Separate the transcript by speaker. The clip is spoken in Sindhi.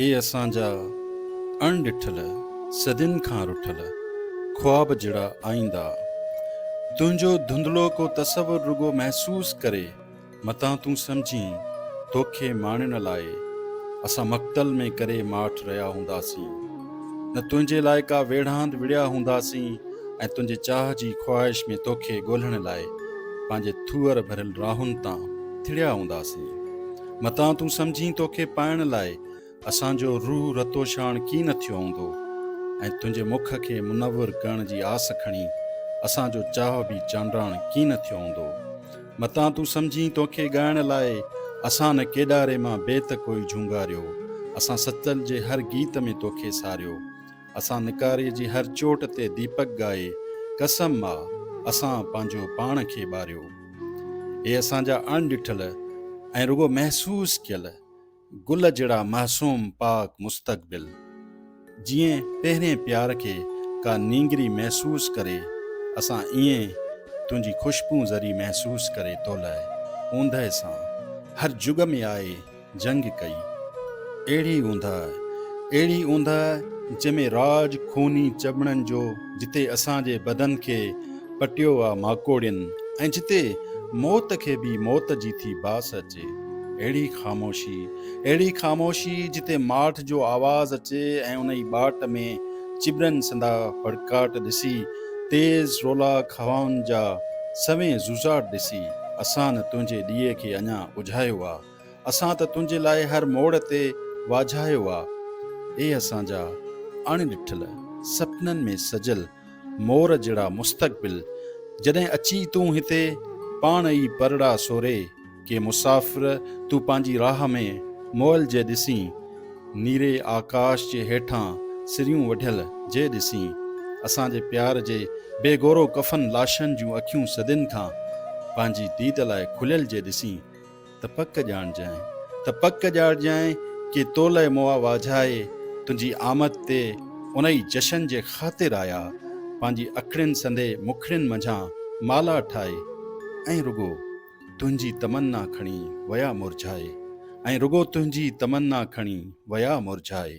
Speaker 1: اي اسان جا اڻ ڏٺل، صدين کان رٺل، خواب جھڙا آئيندا! تنهنجو ڌنڌلو ڪو تصور رڳو محسوس ڪري، متان تون سمجھين، توکي ماڻڻ لاء، اسان مقتل ۾ ڪري ماٺ رهيا هونداسين. نه تنهنجي لاء ڪا ويڙهاند وڙهيا هونداسين ۽ تنهنجي چاهه جي خواهش ۾ توکي ڳولهڻ لاء، پنهنجي ٿوئر ڀريل راهن تان ٿڙيا هونداسين. متان تون سمجهين توکي پائڻ لاء اسان جو روح رتوشاڻ ڪين نه ٿيو هوندو ۽ تنهنجي مک کي منور ڪرڻ جي آس کڻي اسان جو چاهه به چانڊراڻ ڪين نه ٿيو هوندو متان تون سمجهين توکي ڳائڻ لاء اسان نه ڪيڏاري مان بيت ڪوئي جهونگاريو اسان ستل جي هر گيت ۾ توکي ساريو اسان نڪاري جي هر چوٽ تي ديپڪ ڳائي قسم آ اسان پنهنجو پاڻ کي ٻاريو. هي اسان جا اڻ ڏٺل ۽ رڳو محسوس ڪيل گل جهڙا معصوم پاڪ مستقبل. جيئن پهرين پيار کي ڪا نينگري محسوس ڪري اسان ايئن تنهنجي خوشبون ذري محسوس ڪري تولئه اوندهه سان هر جڳ ۾ آئي جنگ ڪئي. اهڙي اوندهه، اهڙي اوندهه جنهن ۾ راڄ خوني چٻڻن جو جتي اسان جي بدن کي پٽيو آ ماڪوڙين ۽ جتي موت کي به موت جي ٿي باس اچي. اهڙي خاموشي، اهڙي خاموشي جتي ماٺ جو آواز اچي ۽ انهي ٻاٽ ۾ چٻرن سندا ڦڙڪاٽ ڏسي، تيز رولاڪ هوائن جا سوين زوزاٽ ڏسي، اسان نه تنهنجي ڏيئي کي اڃا ٻجهايو آ. اسان ته تنهنجي لاء هر موڙ تي واجهايو آ. اي اسان جا اڻ ڏٺل سپنن ۾ سجل مور جهڙا مستقبل، جڏهن اچي تون هتي پاڻ ئي پرڙا سوري ڪي مسافر تون پنهنجي راهه ۾ مئل جي ڏسين، نيري آڪاش جي هيٺان سريون وڍيل جي ڏسين، اسان جي پيار جي بي گورو ڪفن لاشن جون اکيون صدين کان پنهنجي ديد لاء کليل جي ڏسين. ته پڪ ڄاڻجانء، ته پڪ ڄاڻجانء، ڪي تولئه مئا واجهائي، تنهنجي آمد تي، انهيء جشن جي خاطر آيا، پنهنجي اکڙين سندي مکڙين منجهان مالا ٺاهي، ۽ رڳو تنهنجي تمنا کڻي ويا مرجهائي، ۽ رڳو تنهنجي تمنا کڻي ويا مرجهائي.